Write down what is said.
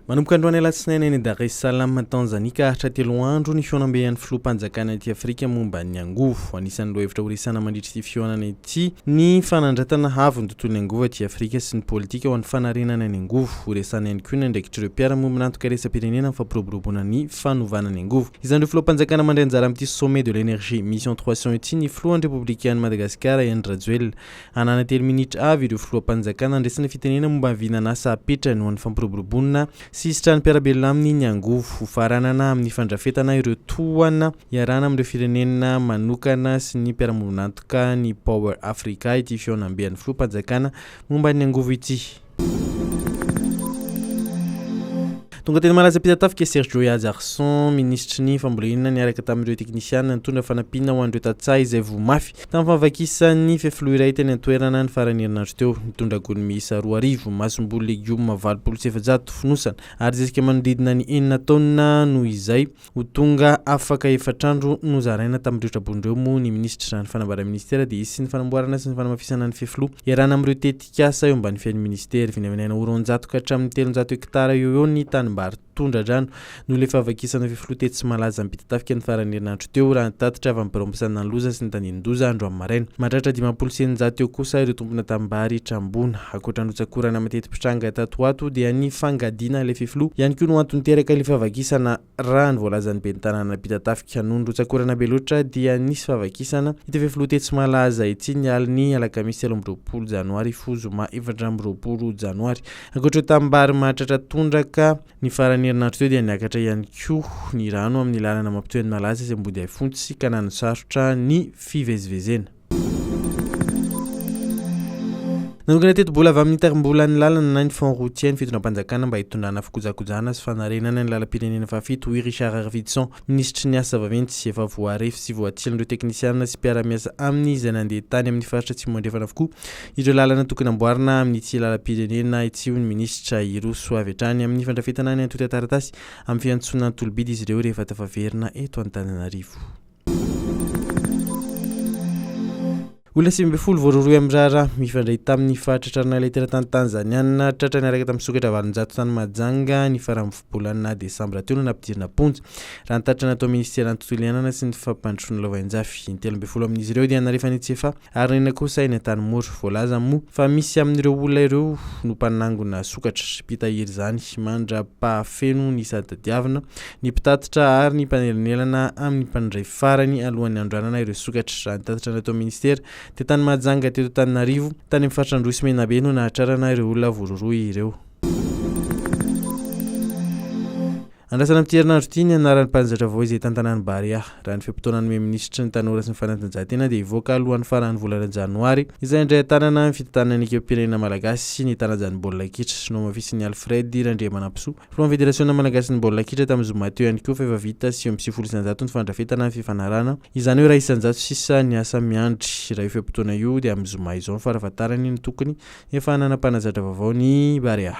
Manomboka androany alatsinainy any Dar es Salaam, Tanzania ka haharitra telo andro ny fihaonambehan'ny filoham-panjakana ety Afrika momba ny angovo. Anisan'ireo hevitra horesahana mandritra ity fihaonana ity ny fanandratana avo ny tontolon'ny angovo aty Afrika sy ny politika ho an'ny fanarenana ny angovo. Horesahana ihany koa ny andraikitr'ireo mpiara-miombon'antoka iraisam-pirenena amin'ny fampiroboroboana ny fanovana ny angovo. Izan'ireo filoham-panjakana mandray anjara amin'ity Sommet de l'Energie, Mission Trois Cents ity ny filohan'ny Repoblikan'i Madagasikara, Andry Rajoelina. Hanana telo minitra avy ireo filoham-panjakana handresy ny fitenena momba ny vinan'asa apetrany ho an'ny fampiroboroboana sy hisitran'ny mpiara-belona aminy ny angovo ho faranana amin'ny fandrafetana ireo tohana iarahana amin'ireo firenena manokana sy ny mpiara-monina antoka ny Power Africa ity fihaonambe an'ny filoham-panjakana momba ny angovo ity. Tonga teny Malaza Ampitatafika i Serge Joy Ajarson, minisitry ny Fambolena, niaraka tamin'ireo teknisiana nitondra fanampiana ho an'ireo tantsaha izay voa mafy tamin'ny fahavakisan'ny fefiloha iray teny an-toerana ny faran'ny herinandro teo. Nitondra gony miisa roa arivo, masomboly legioma valopolo sy efajato, fonosana ary zezika manodidina ny enina taonina noho izay. Ho tonga afaka efatra andro nozaraina tamin'ireo traboina ireo moa ny minisitra izany fanambarany minisitera dia hisy ny fanamboarana sy ny fanamafisana ny fefiloha iarahana amin'ireo tetikasa eo ambany fiain'ny minisitera. Vinavinaina ho roanjato ka hatramin'ny telonjato hektara eo ho eo ny tanimbary tondra-drano noho ilay fahavakisana fefiloha tetsy Tsimalaza Ampitatafika ny faran'ny herinandro teo raha ny tatitra avy amin'ny birao misanina ny loza sy ny tandindoza andro amin'ny maraina. Mahatratra dimampolo sy eninjato eo kosa ireo tompona tanimbary trambona. Ankoatra ny rotsakorana mateti-pitranga tato ho ato dia ny fangadiana ilay fefiloha ihany koa no antony niteraka ilay fahavakisana raha ny voalazan'ny ben'ny tanàna Peter Tafika. Noho ny rotsakorana be loatra dia nisy fahavakisana ity fefiloha tetsy Malaza ity ny alin'ny alakamisy telo amby roapolo janoary hifoha zoma efatra amby roapolo janoary. Ankoatra ireo tanimbary mahatratra tondraka ny faran'ny herinandro teo dia niakatra ihany koa ny rano amin'ny lalana mampitohy an'i Malaza sy Ambodihaifontsy ka nanosarotra ny fivezivezena. Nanokana tetibola avy amin'ny Itarimbolan'ny lalana na ny Fonds routier ny fitondram-panjakana mba hitondrana fikojakojana sy fanarenana ny lalam-pirenena fahafito, hoy Richard Arvidsson, minisitry ny Asa vaventy sy efa voarefy sy voatsilin'ireo teknisiana sy mpiara-miasa aminy izay nandeha tany amin'ny faritra Atsimo Andrefana avokoa ireo lalana tokony hamboarina amin'ity lalam-pirenena ity, hoy ny minisitra. Hiroso avy hatrany amin'ny fandrafetana ny antontan-taratasy amin'ny fiantsoana tolobidy izy ireo rehefa tafaverina eto Antananarivo. Olona sivy ambin'ny folo voarohirohy amin'ny raharaha mifandray tamin'ny faritra tranon'ala teratany Tanzaniana tratra niaraka tamin'ny sokatra valonjato tany Mahajanga ny faran'ny volana desambra teo no nampidirina am-ponja, raha ny tatitra nataon'ny minisiteran'ny tontolo iainana sy ny fampandrosoana lavainjafy. Intelo ambin'ny folo amin'izy ireo dia nalefa any an-tsefa Ary inona kosa eny Antanimora? Voalaza moa fa misy amin'ireo olona ireo no mpanangona sokatra, mpitahiry izany mandra-pahafeno ny sady tadiavina, ny mpitatitra ary ny mpanelanelana amin'ny mpandray farany alohan'ny handroanana ireo sokatra. Raha ny tatitra natao minisitera dia tany Mahajanga teto Antananarivo, tany amin'ny faritra Androy sy Menabe no nahatrarana ireo olona voarohirohy ireo. Andrasana amin'ity herinandro ity ny anaran'ny mpanjaitra vaovao izay hitantanà ny Barea. Raha ny fe-potoana nomeny minisitry ny Tanora sy ny fanatanjahantena dia hivoaka alohan'ny faran'ny volana janoary izay handray an-tanana ny fitantanana ny ekipam-pirenena malagasy sy ny tarajany baolina kitra. Nohamafisin'i Alfred Randriamanampisoa, filohan'ny federasiona malagasin'ny baolina kitra tamin'ny zoma teo ihany koa fa efa vita sivy amby sivifolo isan-jato ny fandrafetana ny fifanarahana, izany hoe iray isan-jato sisa ny asa miandry. Raha io fe-potoana io dia amin'ny zoma izao ny farafahatarany no tokony efa hanana mpanazatra vaovao ny Barea.